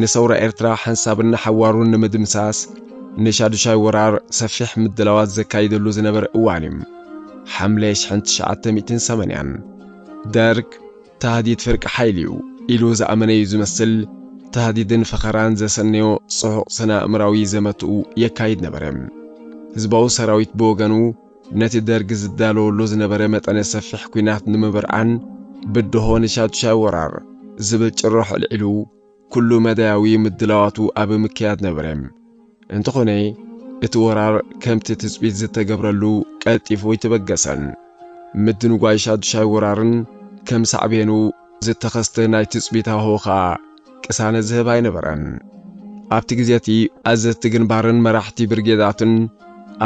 ንሰውራ ኤርትራ ሓንሳብን ንሓዋሩን ንምድምሳስ ንሻዱሻይ ወራር ሰፊሕ ምድላዋት ዘካይደሉ ዝነበረ እዋን እዩ። ሓምለ ሽሕን ትሽዓተ ሚእትን ሰማንያን። ደርግ ታህዲድ ፍርቂ ሓይሊ እዩ ኢሉ ዝኣመነ እዩ ዝመስል፣ ታህዲድን ፈኸራን ዘሰነዮ ጽዑቕ ስነ-ኣእምራዊ ዘመትኡ የካይድ ነበረ። ህዝባዊ ሰራዊት ብወገኑ፣ ነቲ ደርግ ዝዳለወሉ ዝነበረ መጠነ ሰፊሕ ኲናት ንምብርዓን ብድሆ ንሻዱሻይ ወራር ዝብል ጭርሖ ኣልዒሉ ኩሉ መዳያዊ ምድላዋቱ ኣብ ምክያድ ነበረ። እንተኾነ እቲ ወራር ከምቲ ትጽቢት ዝተገብረሉ ቀልጢፉ ኣይተበገሰን። ምድንጓይ ሻዱሻይ ወራርን ከም ሳዕቤኑ ዝተኸስተ ናይ ትጽቢት ሃዋህው ከኣ ቅሳነት ዝህብ ኣይነበረን። ኣብቲ ግዜ እቲ ኣዘዝቲ ግንባርን መራሕቲ ብርጌዳትን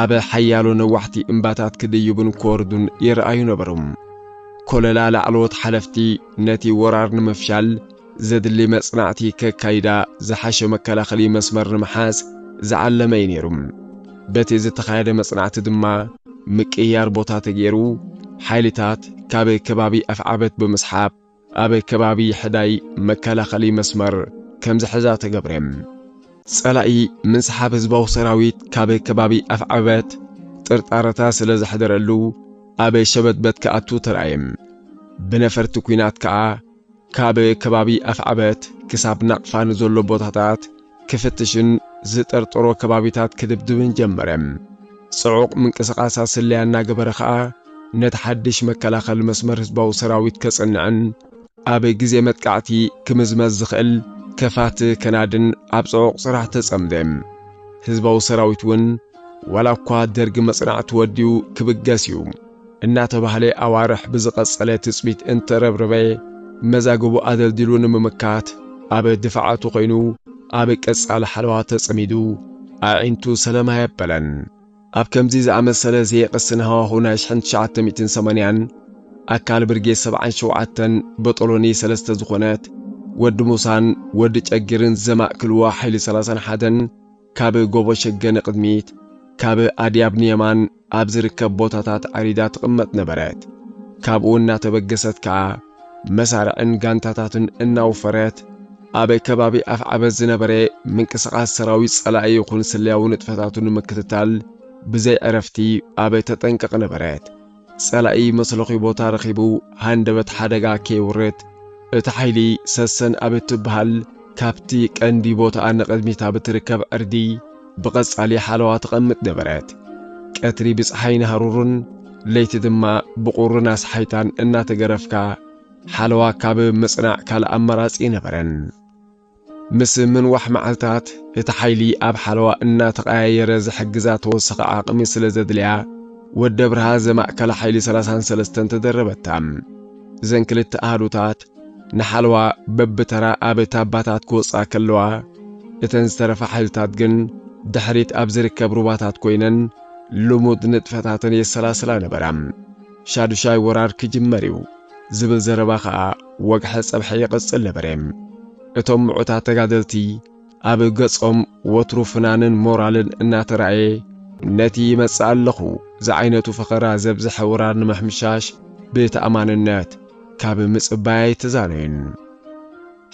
ኣብ ሓያሎ ነዋሕቲ እምባታት ክድይቡን ክወርዱን ይረኣዩ ነበሩ። ኮለላ ላዕለዎት ሓለፍቲ ነቲ ወራር ንምፍሻል ዘድሊ መጽናዕቲ ከካይዳ ዝሓሸ መከላኸሊ መስመር ንምሓዝ ዝዓለመ እዩ ነይሩ። በቲ ዝተኻየደ መጽናዕቲ ድማ ምቅይያር ቦታ ተገይሩ ሓይልታት ካብ ከባቢ ኣፍዓበት ብምስሓብ ኣብ ከባቢ ሕዳይ መከላኸሊ መስመር ከም ዝሕዛ ተገብረ። ጸላኢ ምንስሓብ ህዝባዊ ሰራዊት ካብ ከባቢ ኣፍዓበት ጥርጣረታ ስለ ዘሕደረሉ ኣብ ሸበትበት ክኣቱ ተራእየ። ብነፈርቲ ኲናት ከኣ ካብ ከባቢ ኣፍዓበት ክሳብ ናቕፋ ንዘሎ ቦታታት ክፍትሽን ዝጠርጠሮ ከባቢታት ክድብድብን ጀመረ። ጽዑቕ ምንቅስቓሳት ስለያ እናገበረ ከኣ ነቲ ሓድሽ መከላኸሊ መስመር ህዝባዊ ሰራዊት ከጽንዕን ኣብ ግዜ መጥቃዕቲ ክምዝመዝ ዝኽእል ከፋት ከናድን ኣብ ጽዑቕ ስራሕ ተጸምደ። ህዝባዊ ሰራዊት እውን ዋላ እኳ ደርጊ መጽናዕቲ ወድዩ ክብገስ እዩ፣ እናተባህለ ኣዋርሕ ብዝቐጸለ ትጽቢት እንተረብረበ፣ መዛግቡ ኣደልዲሉ ንምምካት ኣብ ድፋዓቱ ኮይኑ ኣብ ቀጻሊ ሓለዋ ተጸሚዱ ኣዒንቱ ሰላም ኣየበለን። ኣብ ከምዚ ዝኣመሰለ ዘየቕስን ሃዋሁ ናይ ሽሕን ትሽዓተ ሚእትን ሰማንያን ኣካል ብርጌድ ሰብዓን ሸውዓተን በጦሎኒ ሰለስተ ዝኾነት ወዲ ሙሳን ወዲ ጨጊርን ዘማእክልዋ ሓይሊ ሰላሳን ሓደን ካብ ጎቦ ሸገ ንቕድሚት ካብ ኣድያብ ንየማን ኣብ ዝርከብ ቦታታት ዓሪዳ ትቕመጥ ነበረት። ካብኡ እናተበገሰት ከኣ መሳርዕን ጋንታታትን እናውፈረት ኣብ ከባቢ ኣፍዓበት ዝነበረ ምንቅስቓስ ሰራዊት ጸላኢ ይኹን ስለያዊ ንጥፈታቱ ንምክትታል ብዘይ ዕረፍቲ ኣብ ተጠንቀቕ ነበረት። ጸላኢ መትለኺ ቦታ ረኺቡ ሃንደበት ሓደጋ ከየውርድ፣ እቲ ሓይሊ ሰሰን ኣብ እትብሃል ካብቲ ቀንዲ ቦታኣ ንቕድሚት ኣብ እትርከብ ዕርዲ ብቐጻሊ ሓለዋ ተቐምጥ ነበረት። ቀትሪ ብጸሓይን ሃሩርን፣ ለይቲ ድማ ብቑርን ኣስሓይታን እናተገረፍካ ሓለዋ ካብ ምጽናዕ ካልእ ኣማራጺ ኣይነበረን። ምስ ምንዋሕ መዓልታት፣ እቲ ሓይሊ ኣብ ሓለዋ እናተቐያየረ ዝሕግዛ ተወሳኺ ዓቕሚ ስለ ዘድልያ፣ ወዲ ኣብርሃ ዘማእከላ ሓይሊ ሰላሳን ሰለስተን ተደረበታ። እዘን ክልተ ኣሃዱታት ንሓለዋ በብተራ ኣብ ታባታት ክወጽኣ ከለዋ፣ እተን ዝተረፋ ሓይልታት ግን ድሕሪት ኣብ ዝርከብ ሩባታት ኮይነን ልሙድ ንጥፈታተን የሰላስላ ነበራ። ሻዱሻይ ወራር ክጅመር እዩ። ዝብል ዘረባ ከኣ ወግሐ ጸብሐ ይቕጽል ነበረ። እቶም ምዑታት ተጋደልቲ ኣብ ገጾም ወትሩ ፍናንን ሞራልን እናተራእየ ነቲ ይመጽእ ኣለኹ ዝዓይነቱ ፈኸራ ዘብዝሐ ወራር ንምሕምሻሽ ብተኣማንነት ካብ ምጽባይ ኣይተዛነዩን።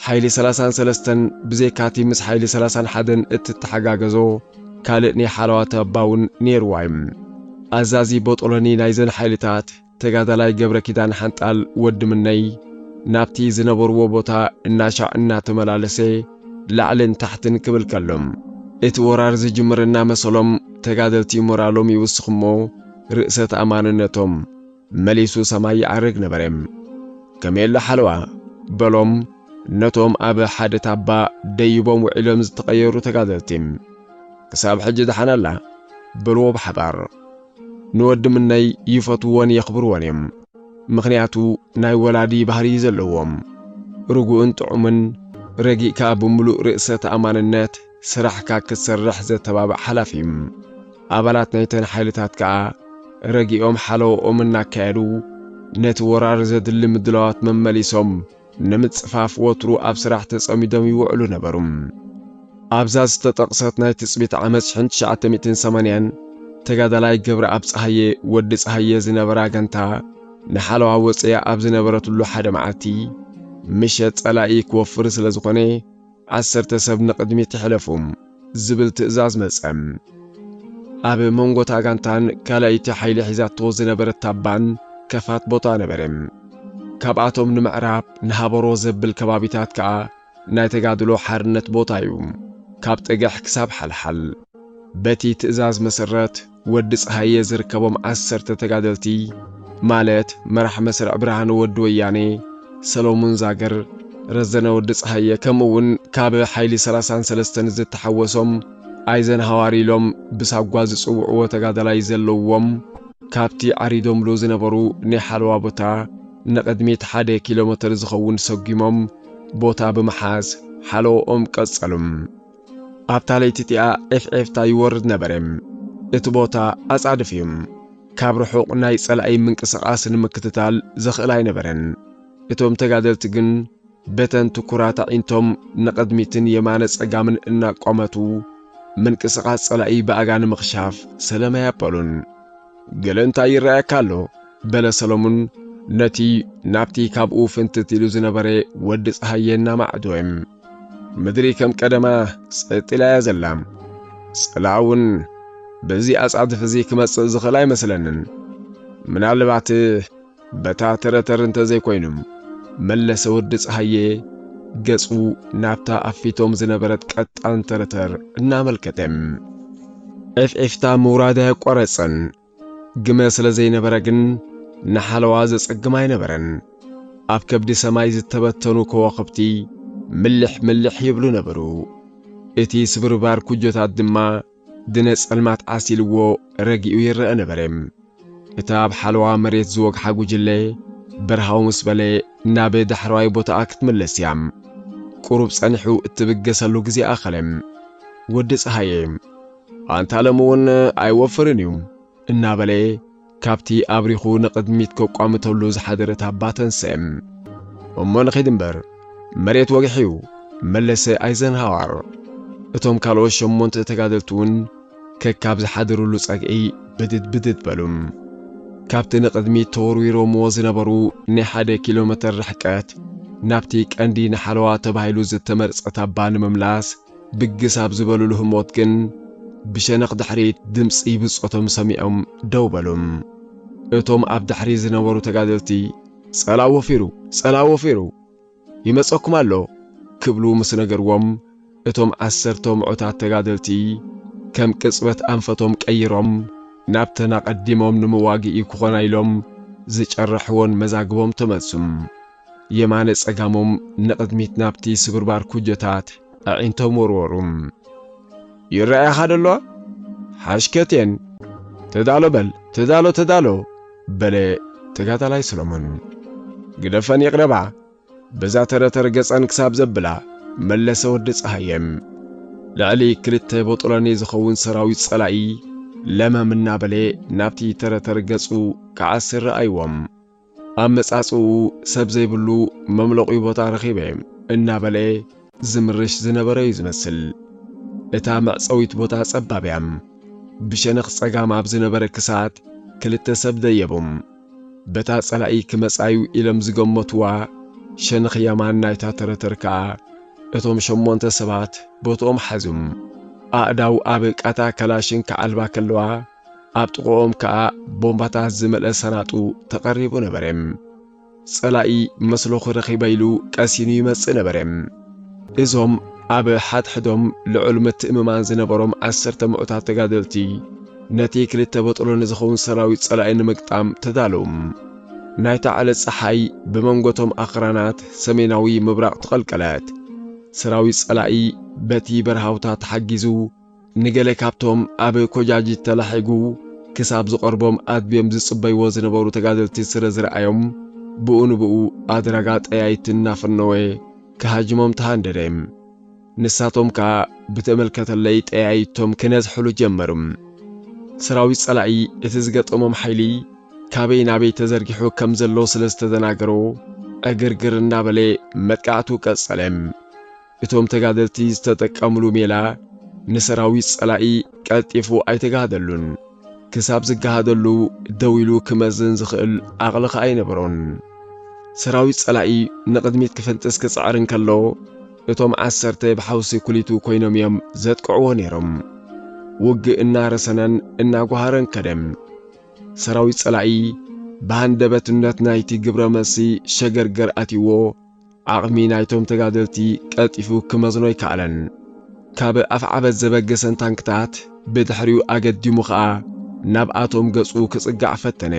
ሓይሊ ሰላሳን ሰለስተን ብዘይካቲ ምስ ሓይሊ ሰላሳን ሓደን እትተሓጋገዞ ካልእ ናይ ሓለዋ ተባውን ነይርዋ እዩ። ኣዛዚ ቦጦሎኒ ናይዘን ሓይልታት ተጋዳላይ ገብረኪዳን ሓንጣል፣ ወዲ ምነይ፣ ናብቲ ዝነበርዎ ቦታ እናሻዕ እናተመላለሰ ላዕልን ታሕትን ክብል ከሎ፣ እቲ ወራር ዝጅምር እናመሰሎም ተጋደልቲ ሞራሎም ይውስኽ'ሞ ርእሰ-ተኣማንነቶም መሊሱ ሰማይ ይዓርግ ነበረ። ከመየለ ሓለዋ! በሎም ነቶም ኣብ ሓደ ታባ ደይቦም ውዒሎም ዝተቐየሩ ተጋደልቲ። ክሳብ ሕጂ ደሓን ኣላ! በልዎ ብሓባር። ንወዲ ምነይ ይፈትዎን የኽብርዎን እዮም ምኽንያቱ ናይ ወላዲ ባህሪ እዩ ዘለዎም ርጉእን ጥዑምን ረጊእካ ብምሉእ ርእሰ ተኣማንነት ስራሕካ ክትሰርሕ ዘተባብዕ ሓላፊ እም ኣባላት ናይተን ሓይልታት ከኣ ረጊኦም ሓለወኦም እናካየዱ ነቲ ወራር ዘድሊ ምድላዋት መመሊሶም ንምጽፋፍ ወትሩ ኣብ ስራሕ ተጸሚዶም ይውዕሉ ነበሩ። ኣብዛ ዝተጠቕሰት ናይ ትጽቢት ዓመት ሽሕን ትሽዓተ ሚእትን ሰማንያን፣ ተጋዳላይ ገብረኣብ ጸሃየ፣ ወዲ ጸሃየ፣ ዝነበራ ጋንታ ንሓለዋ ወጽያ ኣብ ዝነበረትሉ ሓደ መዓልቲ ምሸት ጸላኢ ክወፍር ስለ ዝኾነ፣ ዓሰርተ ሰብ ንቕድሚት ሕለፉ ዝብል ትእዛዝ መጸ። ኣብ መንጎ እታ ጋንታን ካልኣይቲ ሓይሊ ሒዛቶ ዝነበረት ታባን ከፋት ቦታ ነበረ። ካብኣቶም ንምዕራብ ንሃበሮ ዘብል ከባቢታት ከኣ ናይ ተጋድሎ ሓርነት ቦታ እዩ፣ ካብ ጠገሕ ክሳብ ሓልሓል። በቲ ትእዛዝ መሰረት ወዲ ጸሃየ ዝርከቦም ዓሰርተ ተጋደልቲ ማለት መራሕ መስርዕ ብርሃኑ ወዲ ወያኔ፣ ሰሎሙን ዛግር፣ ረዘነ ወዲ ጸሃየ ከምኡ እውን ካብ ሓይሊ ሰላሳን ሰለስተን ዝተሓወሶም ኣይዘንሃዋር ኢሎም ብሳጓ ዝጽውዕዎ ተጋዳላይ ዘለውዎም ካብቲ ዓሪዶምሉ ዝነበሩ ናይ ሓለዋ ቦታ ንቕድሚት ሓደ ኪሎመተር ዝኸውን ሰጒሞም ቦታ ብምሓዝ ሓለዎኦም ቀጸሉ። ኣብታ ለይቲ እቲኣ ዔፍዔፍታ ይወርድ ነበረ። እቲ ቦታ ኣጻድፍ እዩ። ካብ ርሑቕ ናይ ጸላኢ ምንቅስቓስ ንምክትታል ዘኽእል ኣይነበረን። እቶም ተጋደልቲ ግን በተን ትኩራት ኣዒንቶም ንቕድሚትን የማነ ጸጋምን እናቋመቱ ምንቅስቓስ ጸላኢ ብኣጋ ንምኽሻፍ ሰለማ ያበሉን። ገለ እንታይ ይረኣየካ ኣሎ? በለ ሰለሙን ነቲ ናብቲ ካብኡ ፍንትት ኢሉ ዝነበረ ወዲ ጸሃየ እናማዕዶም። ምድሪ ከም ቀደማ ጸጥ ኢላ እያ ዘላ። ጽልኣ እውን በዚ ኣጻድፍ እዚ ክመጽእ ዝኽእል ኣይመስለንን። ምናልባት በታ ተረተር እንተ ዘይኮይኑ መለሰ ወዲ ፀሃየ ገጹ ናብታ ኣብ ፊቶም ዝነበረት ቀጣን ተረተር እናመልከተ ኤፍኤፍታ ምውራድ ኣየቋረጸን። ግመ ስለ ዘይነበረ ግን ንሓለዋ ዘጸግም ኣይነበረን። ኣብ ከብዲ ሰማይ ዝተበተኑ ከዋኽብቲ ምልሕ ምልሕ ይብሉ ነበሩ። እቲ ስብርባር ኩጆታት ድማ ድነ ጸልማት ዓሲልዎ ረጊኡ ይረአ ነበረ። እታ ኣብ ሓለዋ መሬት ዝወግሓ ጉጅለ በርሃው ምስ በለ ናብ ዳሕረዋይ ቦታኣ ክትምለስ እያ። ቁሩብ ጸኒሑ እትብገሰሉ ግዜ ኣኸለ። ወዲ ጸሃየ ኣንታለም እውን ኣይወፍርን እዩ እናበለ ካብቲ ኣብሪኹ ንቕድሚት ከቋምተሉ ዝሓደረ ታባ ተንስአ። እሞ ንኺድ እምበር መሬት ወግሒ'ዩ፣ መለሰ ኣይዘንሃዋር። እቶም ካልኦት ሸሞንተ ተጋደልቲ እውን ከካብ ዝሓደሩሉ ጸግዒ ብድድ ብድድ በሉ። ካብቲ ንቕድሚት ተወርዊሮምዎ ዝነበሩ ናይ ሓደ ኪሎመተር ርሕቀት ናብቲ ቀንዲ ንሓለዋ ተባሂሉ ዝተመርጸ ታባ ንምምላስ ብግስ ኣብ ዝበሉሉ ህሞት ግን ብሸነኽ ድሕሪት ድምጺ ብጾቶም ሰሚዖም ደው በሉ። እቶም ኣብ ድሕሪት ዝነበሩ ተጋደልቲ ጸላኢ ወፊሩ! ጸላኢ ወፊሩ! ይመጸኩም ኣሎ! ክብሉ ምስ ነገርዎም እቶም ዓሰርተ ምዑታት ተጋደልቲ ከም ቅጽበት ኣንፈቶም ቀይሮም ናብተን ኣቐዲሞም ንመዋግኢ ክኾና ኢሎም ዝጨረሕወን መዛግቦም ተመልሱ። የማነ ጸጋሞም ንቕድሚት ናብቲ ስብርባር ኩጀታት ኣዒንቶም ወርወሩ። ይረኣያኻ ደሎ ሓሽከቴን! ተዳሎ በል ተዳሎ ተዳሎ! በለ ተጋዳላይ ሰሎሞን። ግደፈን ይቕረባ! በዛ ተረተር ገጸን ክሳብ ዘብላ መለሰ ወዲ ጸሃየ። ልዕሊ ክልተ ቦጦሎኒ ዝኸውን ሰራዊት ጸላኢ ለመም እናበለ ናብቲ ተረተር ገጹ ክዓስር ረኣይዎም። ኣመጻጽኡ ሰብ ዘይብሉ መምለቑ ቦታ ረኺበ እናበለ ዝምርሽ ዝነበረ እዩ ዝመስል። እታ መዕጸዊት ቦታ ጸባብ እያ። ብሸነኽ ጸጋም ኣብ ዝነበረ ክሳት ክልተ ሰብ ደየቦም። በታ ጸላኢ ክመጻዩ ኢሎም ዝገመትዋ ሸነኽ የማን ናይታ ተረተር ከኣ እቶም ሸሞንተ ሰባት ቦትኦም ሓዙም። ኣእዳው ኣብ ቃታ ከላሽን ክዓልባ ከለዋ ኣብ ጥቕኦም ከኣ ቦምባታት ዝመልአ ሰናጡ ተቐሪቡ ነበረ። ጸላኢ መስሎኺ ረኺበ ኢሉ ቀሲኑ ይመጽእ ነበረ። እዞም ኣብ ሓድሕዶም ልዑል ምትእምማን ዝነበሮም ዓሰርተ ምዑታት ተጋደልቲ ነቲ ክልተ በጥሎ ንዝኸውን ሰራዊት ጸላኢ ንምግጣም ተዳለዉ። ናይታ ዕለት ጸሓይ ብመንጎቶም ኣኽራናት ሰሜናዊ ምብራቕ ተቐልቀለት። ሰራዊት ጸላኢ በቲ በረሃውታ ተሓጊዙ ንገለ ካብቶም ኣብ ኮጃጅት ተላሒጉ ክሳብ ዝቐርቦም ኣድብዮም ዝጽበይዎ ዝነበሩ ተጋደልቲ ስለ ዝረኣዮም ብኡ ንብኡ ኣድራጋ ጠያይቲ እናፈነወ ክሃጅሞም ተሃንደደ። ንሳቶም ከኣ ብተመልከተለይ ጠያይቶም ክነዝሕሉ ጀመሩ። ሰራዊት ጸላኢ እቲ ዝገጠሞም ሓይሊ ካበይ ናበይ ተዘርጊሑ ከም ዘሎ ስለ ዝተደናገሮ ዕግርግር እናበለ መጥቃዕቱ ቀጸለ። እቶም ተጋደልቲ ዝተጠቀምሉ ሜላ ንሰራዊት ጸላኢ ቀልጢፉ ኣይተጋሃደሉን። ክሳብ ዝጋሃደሉ ደው ኢሉ ክመዝን ዝኽእል ዓቕሊ ከኣ ኣይነበሮን። ሰራዊት ጸላኢ ንቕድሚት ክፍንጥስ ክጽዕር እንከሎ እቶም ዓሰርተ ብሓውሲ ኩሊቱ ኮይኖም እዮም ዘጥቅዕዎ ነይሮም። ውግእ እናረሰነን እናጓሃረን ከደ። ሰራዊት ጸላኢ ብሃንደበትነት ናይቲ ግብረ መልሲ ሸገርገር ኣትዩዎ ዓቕሚ ናይቶም ተጋደልቲ ቀልጢፉ ክመዝኖ ኣይከኣለን። ካብ ኣፍዓበት ዘበገሰን ታንክታት ብድሕሪኡ ኣገዲሙ ከኣ ናብኣቶም ገጹ ክጽጋዕ ፈተነ።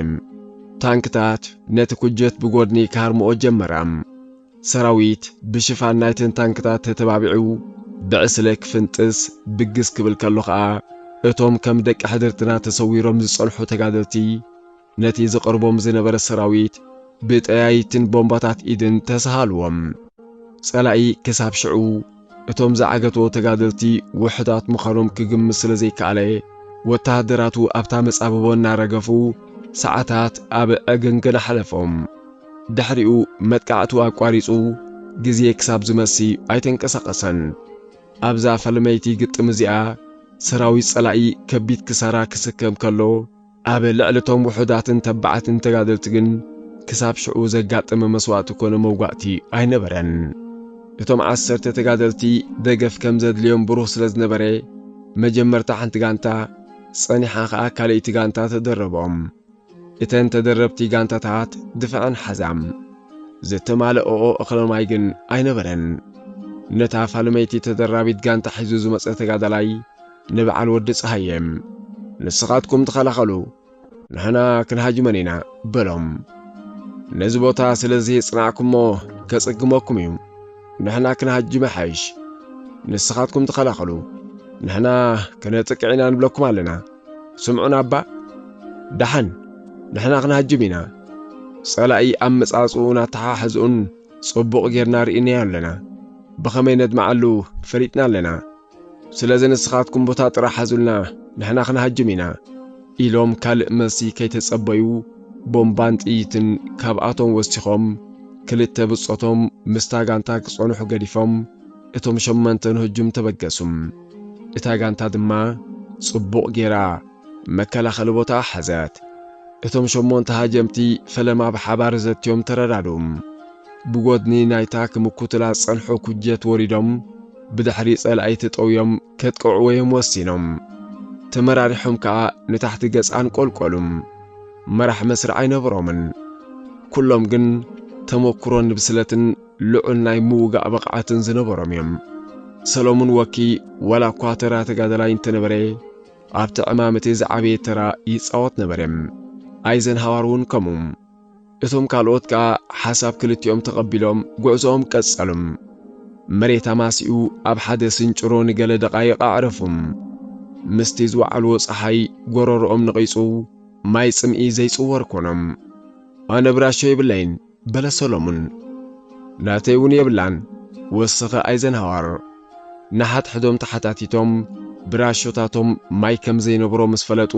ታንክታት ነቲ ኩጀት ብጎድኒ ክሃርምኦ ጀመራ። ሰራዊት ብሽፋን ናይተን ታንክታት ተተባቢዑ ብዕስለ ክፍንጥስ ብግስ ክብል ከሎ ከኣ እቶም ከም ደቂ ሕድርትና ተሰዊሮም ዝጸንሑ ተጋደልቲ ነቲ ዝቐርቦም ዝነበረ ሰራዊት ብጠያይትን ቦምባታት ኢድን ተሰሃልዎም። ጸላኢ ክሳብ ሽዑ እቶም ዝዓገቶ ተጋደልቲ ውሑዳት ምዃኖም ክግምት ስለ ዘይከኣለ፣ ወተሃደራቱ ኣብታ መጻብቦ እናረገፉ ሰዓታት ኣብ ዕግንግን ኣሕለፎም። ድሕሪኡ መጥቃዕቱ ኣቋሪጹ ግዜ ክሳብ ዝመሲ ኣይተንቀሳቐሰን። ኣብዛ ፈለመይቲ ግጥም እዚኣ ሰራዊት ጸላኢ ከቢድ ክሳራ ክስከም ከሎ፣ ኣብ ልዕሊ እቶም ውሑዳትን ተባዓትን ተጋደልቲ ግን ክሳብ ሽዑ ዘጋጠመ መስዋእቲ ኮነ መውጋእቲ ኣይነበረን። እቶም ዓሰርተ ተጋደልቲ ደገፍ ከም ዘድልዮም ብሩህ ስለ ዝነበረ፣ መጀመርታ ሓንቲ ጋንታ፣ ጸኒሓ ከኣ ካልእይቲ ጋንታ ተደረቦም። እተን ተደረብቲ ጋንታታት ድፈዐን ሓዛም። ዘተማለእኦ እኽለ ማይ ግን ኣይነበረን። ነታ ፋልመይቲ ተደራቢት ጋንታ ሒዙ ዝመጸ ተጋዳላይ፣ ንብዓል ወዲ ፀሃየ ንስኻትኩም ተኸላኸሉ ንሕና ክንሃጅመን ኢና በሎም። ነዚ ቦታ ስለዚ ጽናዕኩሞ ከጽግመኩም እዩ ንሕና ክንሃጅመ ሓይሽ ንስኻትኩም ተኸላኸሉ ንሕና ክነጥቅዕ ኢና ንብለኩም ኣለና ስምዑን ኣባ ደሓን ንሕና ክንሃጅም ኢና ጸላኢ ኣመጻጽኡን ኣተሓሕዝኡን ጽቡቕ ጌርና ርኢናዮ ኣለና ብኸመይ ነድመዓሉ ፈሊጥና ኣለና ስለዚ ንስኻትኩም ቦታ ጥራሕ ሓዙልና ንሕና ክንሃጅም ኢና ኢሎም ካልእ መልሲ ከይተጸበዩ ቦምባን ጥይትን ካብኣቶም ወሲኾም ክልተ ብጾቶም ምስታ ጋንታ ክጸንሑ ገዲፎም እቶም ሸሞንተ ንህጁም ተበገሱ። እታ ጋንታ ድማ ጽቡቕ ጌራ መከላኸሊ ቦታ ሓዘት። እቶም ሸሞንተ ሃጀምቲ ፈለማ ብሓባር ዘትዮም ተረዳድኡ። ብጎድኒ ናይታ ክምኩቱላ ዝጸንሑ ኩጀት ወሪዶም ብድሕሪ ጸላኢቲ ጠውዮም ከጥቅዕወዮም ወሲኖም። ተመራሪሖም ከኣ ንታሕቲ ገጽ ኣንቆልቆሉ። መራሕ መስርዕ ኣይነበሮምን። ኩሎም ግን ተመኩሮን ብስለትን ልዑል ናይ ምውጋእ ብቕዓትን ዝነበሮም እዮም። ሰለሙን ወኪ ዋላ እኳ ተራ ተጋዳላይ እንተነበረ ኣብቲ ዕማም እቲ ዝዓበየ ተራ ይጻወት ነበረ። ኣይዘንሃዋር እውን ከምኡ። እቶም ካልኦት ከኣ ሓሳብ ክልቲኦም ተቐቢሎም ጉዕዞኦም ቀጸሉም። መሬት ኣማሲኡ ኣብ ሓደ ስንጭሮ ንገለ ደቓይቕ ኣዕረፉ። ምስቲ ዝወዓልዎ ጸሓይ ጎረሮኦም ነቒጹ ማይ ጽምኢ ዘይጽወር ኮኖም። ኣነ ብራሾ የብለይን በለ ሰሎሙን። ናተይ እውን የብላን ወስኸ ኣይዘንሃዋር። ንሓድሕዶም ተሓታቲቶም ብራሾታቶም ማይ ከም ዘይነበሮ ምስ ፈለጡ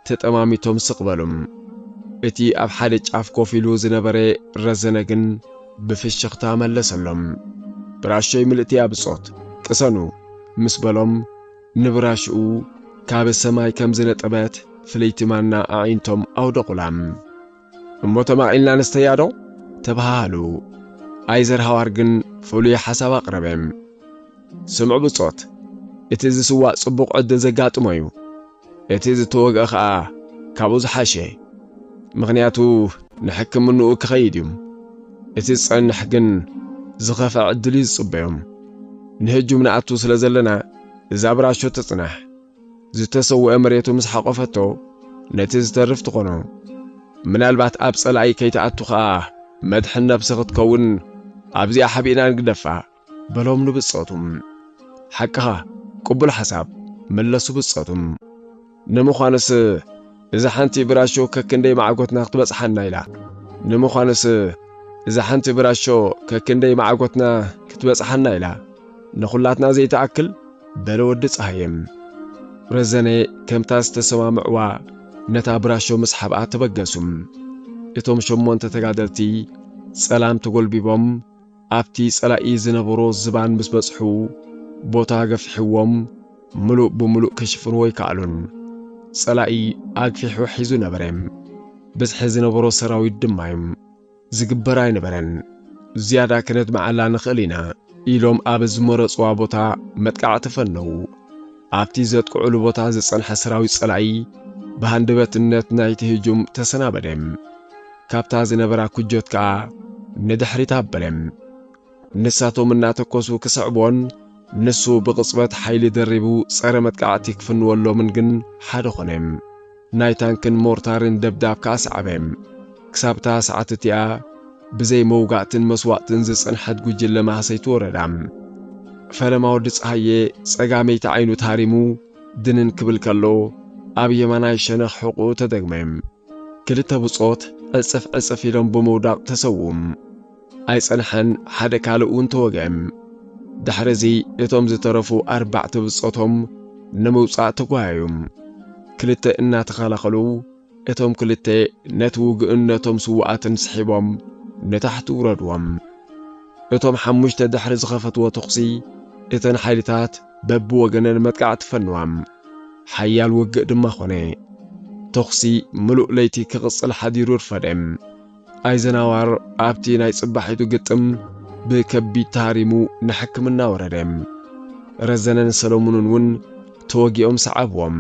ተጠማሚቶም ስቕ በሉ። እቲ ኣብ ሓደ ጫፍ ኮፍ ኢሉ ዝነበረ ረዘነ ግን ብፍሽኽታ መለሰሎም። ብራሾይ ምልእቲ'ያ ብጾት፣ ቅሰኑ! ምስ በሎም፣ ንብራሽኡ ካብ ሰማይ ከም ዝነጠበት ፍልይቲ ማና ኣዒንቶም ኣውደቑላ። እሞ ተማቒልና ንስተያ'ዶ? ተበሃሃሉ። ኣይዘርሃዋር ግን ፍሉይ ሓሳብ ኣቕረበ። ስምዑ ብጾት፣ እቲ ዝስዋእ ጽቡቕ ዕድል ዘጋጥሞ'ዩ። እቲ ዝተወግኣ ከኣ ካብኡ ዝሓሸ ምኽንያቱ ንሕክምንኡ ክኸይድ እዩ። እቲ ዝጸንሕ ግን ዝኸፍዐ ዕድል እዩ ዝጽበዮም። ንህጁም ንኣቱ ስለ ዘለና እዛ ብራሾ ትጽናሕ። ዝተሰውኤ መሬቱ ምስ ሓቆፈቶ ነቲ ዝተርፍ ትኾኖ። ምናልባት ኣብ ጸላኢ ከይትኣቱ ከኣ መድሕን ነብሲ ክትከውን ኣብዚኣ ሓቢእና ንግደፋ። በሎም ንብጾቱም። ሓቅኻ ቅቡል ሓሳብ መለሱ ብጾቱም። ንምዃኑስ እዛ ሓንቲ ብራሾ ከክንደይ ማዕጎትና ክትበጽሓና ኢላ? ንምዃኑስ እዛ ሓንቲ ብራሾ ከክንደይ ማዕጎትና ክትበጽሓና ኢላ? ንኹላትና ዘይትኣክል? በለ ወዲ ጸሃየ። ረዘነ ከምታ ዝተሰማምዕዋ ነታ ብራሾ ምስ ሓብኣ ተበገሱ። እቶም ሸሞንተ ተጋደልቲ ጸላም ተጎልቢቦም ኣብቲ ጸላኢ ዝነበሮ ዝባን ምስ በጽሑ ቦታ ገፊሕዎም ምሉእ ብምሉእ ክሽፍንዎ ኣይከኣሉን። ጸላኢ ኣግፊሑ ሒዙ ነበረ። ብዝሒ ዝነበሮ ሰራዊት ድማ'ዩ። ዝግበር ኣይነበረን። ዝያዳ ከነድምዓላ ንኽእል ኢና ኢሎም ኣብ ዝመረጽዋ ቦታ መጥቃዕቲ ፈነዉ። ኣብቲ ዘጥቅዑሉ ቦታ ዝጸንሐ ሰራዊት ጸላኢ ብሃንደበትነት ናይቲ ህጁም ተሰናበደ። ካብታ ዝነበራ ኩጆት ከኣ ንድሕሪት ኣበለ። ንሳቶም እናተኮሱ ክስዕቡዎን ንሱ ብቕጽበት ሓይሊ ደሪቡ ጸረ መጥቃዕቲ ክፍንወሎምን ግን ሓደ ኮነ። ናይ ታንክን ሞርታርን ደብዳብ ከኣ ሰዓበ። ክሳብ እታ ሰዓት እቲኣ ብዘይ መውጋእትን መስዋእትን ዝጸንሐት ጉጅለ ማህሰይቲ ወረዳ ፈለማ ወዲ ጸሃየ ጸጋመይቲ ዓይኑ ተሃሪሙ ድንን ክብል ከሎ ኣብ የማናይ ሸነኽ ሕቝኡ ተደግመ። ክልተ ብጾት ዕጽፍ ዕጽፍ ኢሎም ብምውዳቕ ተሰውኡ። ኣይጸንሐን፣ ሓደ ካልእ'ውን ተወግአ። ድሕርዚ እቶም ዝተረፉ ኣርባዕተ ብጾቶም ንምውጻእ ተጓየዩ። ክልተ እናተኸላኸሉ፣ እቶም ክልተ ነቲ ውግእን ነቶም ስዉኣትን ስሒቦም ንታሕቲ ውረድዎም። እቶም ሓሙሽተ ድሕሪ ዝኸፈትዎ ተኹሲ፣ እተን ሓይልታት በብወገነን መጥቃዕቲ ፈንዋም። ሓያል ውግእ ድማ ኮነ። ተኹሲ ምሉእ ለይቲ ክቕጽል ሓዲሩ ኣርፈደ። ኣይዘናዋር ኣብቲ ናይ ጽባሒቱ ግጥም ብከቢድ ተሃሪሙ ንሕክምና ወረደ። ረዘነን ሰለሙንን እውን ተወጊኦም ሰዓብዎም።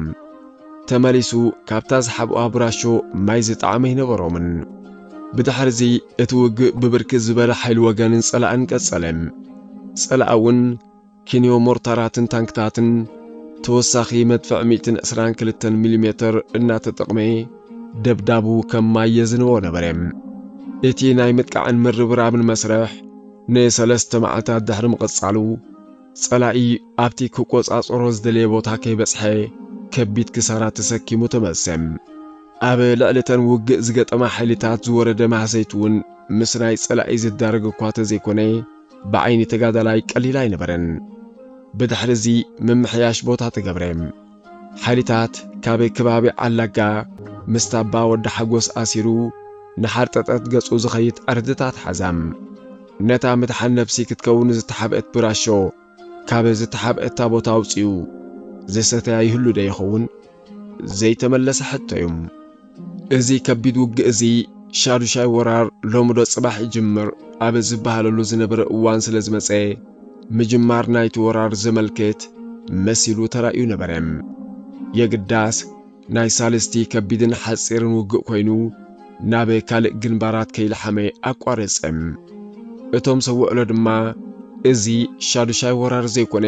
ተመሊሱ ካብታ ዝሓብኡዋ ብራሾ ማይ ዝጠዓመ ኣይነበሮምን። ብድሕርዚ እቲ ውግእ ብብርክት ዝበለ ሓይሊ ወገንን ጸላእን ቀጸለ። ጸላእውን ኪንዮ ሞርታራትን ታንክታትን ተወሳኺ መድፍዕ ሚእትን ዕስራን ክልተን ሚሊሜተር እናተጠቕመ ደብዳቡ ከም ማይ የዝንቦ ነበረ። እቲ ናይ ምጥቃዕን ምርብራብን መስርሕ ንሰለስተ መዓልታት ድሕሪ ምቕጻሉ፣ ጸላኢ ኣብቲ ክቆጻጸሮ ዝደለየ ቦታ ከይበጽሐ ከቢድ ክሳራ ተሰኪሙ ተመልሰ። ኣብ ልዕሊ እተን ውግእ ዝገጠማ ሓይልታት ዝወረደ ማህሰይቲ'ውን ምስ ናይ ጸላኢ ዝዳረግ እኳ ተዘይኮነ፣ ብዓይኒ ተጋዳላይ ቀሊል ኣይነበረን። ብድሕሪ እዚ ምምሕያሽ ቦታ ተገብረ። ሓይልታት ካብ ከባቢ ዓላጋ ምስ ታባ ወዲ ሓጎስ ኣሲሩ ንሓርጠጠት ገጹ ዝኸይድ ዕርድታት ሓዛም። ነታ ምድሓን ነብሲ ክትከውን ዝተሓብእት ብራሾ ካብ ዝተሓብእታ ቦታ ኣውጺኡ ዝሰተያ ይህሉ'ዶ ይኸውን? ዘይተመለሰ ሕቶ እዩ። እዚ ከቢድ ውግእ እዚ ሻዱሻይ ወራር ሎምዶ ጽባሕ ይጅምር ኣብ ዝበሃለሉ ዝነበረ እዋን ስለ ዝመጸ ምጅማር ናይቲ ወራር ዘመልክት መሲሉ ተራእዩ ነበረ። የግዳስ ናይ ሳልስቲ ከቢድን ሓጺርን ውግእ ኮይኑ ናብ ካልእ ግንባራት ከይለሓመ ኣቋረጸ። እቶም ሰውዕሎ ድማ እዚ ሻዱሻይ ወራር ዘይኮነ